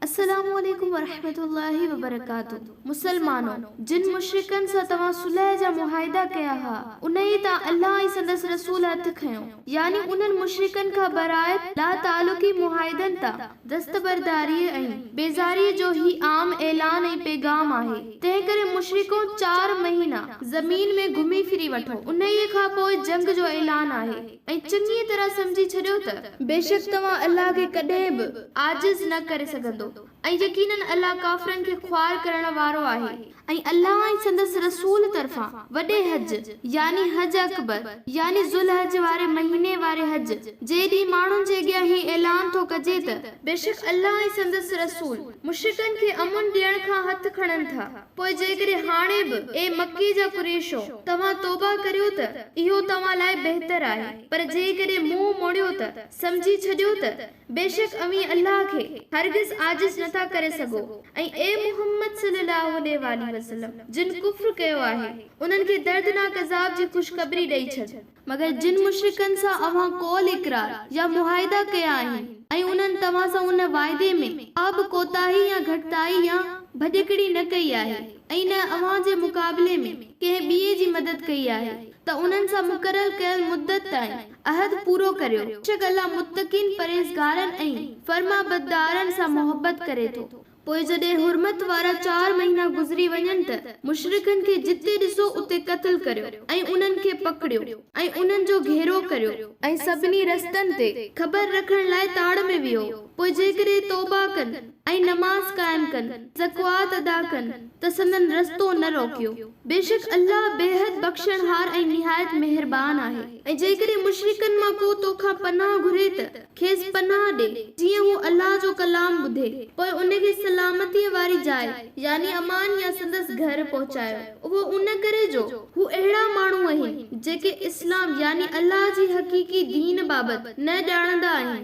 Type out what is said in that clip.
السلام عليڪم ورحمة الله وبرڪاته مسلمانو! جن مشرڪن سان توهان صلح جا معاهدا ڪيا ها، انهيء تان الله ۽ سندس رسول هٿ کنيو، يعني انهن مشرڪن کان برايت لاتعلقي معاهدن تان دستبرداريء ۽ بيزاريء جو هي عام اعلان ۽ پيغام آهي، تنهنڪري مشرڪو چار مهينا زمين ۾ گهمي ڦري وٺو، انهيء کان پوء جنگ جو اعلان آهي. ۽ چڱيء طرح سمجهي ڇڏيو ته. بيشڪ توهان الله کي ڪڏهن به. عاجز نه ڪري سگهندو. ۽ يقيناً الله ڪافرن کي خوار ڪرڻ وارو آهي. ۽ الله ۽ سندس رسول طرفان وڏي حج، يعني حج اڪبر، يعني ذوالحج واري مهيني واري حج، جي ڏينهن ماڻهن جي اڳيان هي اعلان ٿو ڪجي ته. بيشڪ الله ۽ سندس رسول مشرڪن کي امن ڏيڻ کان هٿ کڻن ٿا. پوء جيڪڏهن هاڻي به، اي مڪي جا قريشو! توهان توبهه ڪريو ته اهو توهان لاء بهتر آهي، پر جيڪڏهن منهن موڙيو ته سمجهي ڇڏيو ته بيشڪ اوهين الله کي هرگز عاجز نه ٿا ڪري سگهو ۽ اي محمد صلي الله عليه واٰله وسلم! جن ڪفر ڪيو آهي، انهن کي دردناڪ عذاب جي خوشخبري ڏئي ڇڏ. مگر جن مشرڪن سان اوهان قول اقرار يا معاهدا ڪيا آهن ۽ انهن توهان سان ان واعدي ۾ ڪا به ڪوتاهي يا گهٽتائي يا ڀڄڪڙي نه ڪئي آهي ۽ نه اوهان جي مقابلي ۾ ڪنهن ٻئي جي مدد ڪئي آهي ته انهن سان مقرر ڪيل مدت تائين عهد پورو ڪريو. بيشڪ الله متقين، پرهيزگارن ۽ فرمانبردارن سان محبت ڪري ٿو. پوء جڏهن حرمت وارا چار مهينا گذري وڃن ته مشرڪن کي جتي ڏسو اتي قتل ڪريو ۽ انهن کي پڪڙيو ۽ انهن جو گهيرو ڪريو ۽ سڀني رستن تي خبر رکڻ لاء تاڙ ۾ ويهو پوء جيڪڏهن توبه ڪن ۽ نماز قائم ڪن زڪوات ادا ڪن ته سندن رستو نه روڪيو بيشڪ الله بيحد بخشڻهار ۽ نهايت مهربان آهي ۽ جيڪڏهن مشرڪن مان ڪو تو کان پناهه گهري ته کيس پناهه ڏي جيئن هو الله جو ڪلام ٻڌي، پوء ان کي سلامتيء واري جاء، يعني امان يا سندس گهر، پهچايو. اهو ان ڪري جو هو اهڙا ماڻهو اهن، جيڪي اسلام يعني الله جي حقيقي دين بابت نه ڄاڻندا آهن.